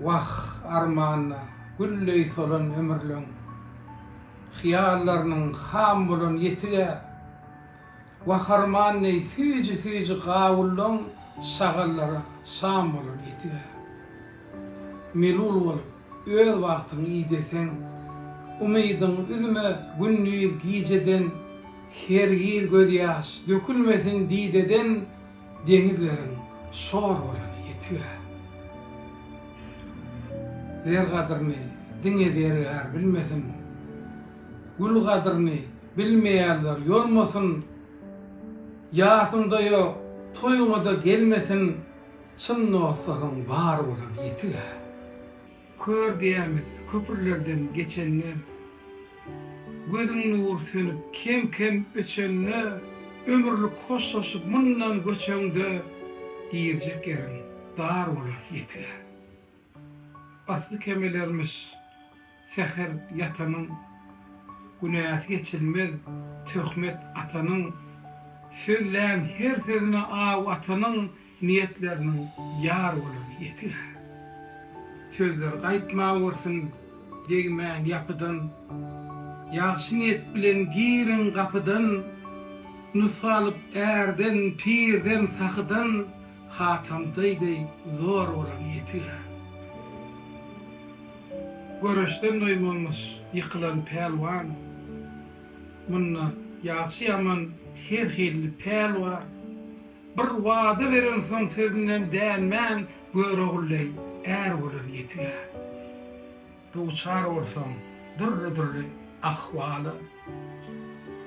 Wah, armana gülleý solan ömürleň, Hyýallarynyň ham bolan ýetig-ä. Wah, arman deý süýji-süýji gawullaň, Şagallara şam bolan etig-ä. Melul bolup, öz bagtyň ideseň, Umydyň üzme gündiz gijeden, Hergiz gözýaş dökülmesin dideden. Deňizleriň şor bolany ýetiger. Zer gadryny diňe zergär bilmesin. Gül gadryny bilmeýänler ýolmasyn. Ýasyňda ýok, toýuňa-da gelmesin, çyn dostlaryň bar bolany ýetiger. Kör diýämiz köprülerden geçende, Gözüň nury sönüp kem-kem öçende, Ömürlik hoşlaşyp mundan göçeňde, Girjek ýeriň dar bolar ýetige. Asly kemelermiş säher ýatanyň, Günäsi geçilmez töhmet atanyň, Sözlän her sözüne aw atanyň, Niýetleriniň ýar bolany ýetiger. Sözler gaýtmawursun degmän ýapydan, Ýagşy niýet bilen giriň gapydan, Nusga alyp ärden, pirden, sahydan, Hatam daý deý zor bolany ýetiger. Göreşden doýmanmyş ýykylan pälwan, Munda ýagşy-ýaman her hilli päl bar. Bir wada berensoň sözünden dänmän, Görogulleý, är bolan ýetigär. Duçar bolsaň dürli-dürli ahwala,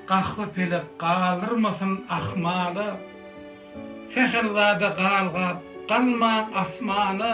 Gahwy pelek galdyrmasyn ahmala. Sähelzada galgap galmaň asmana.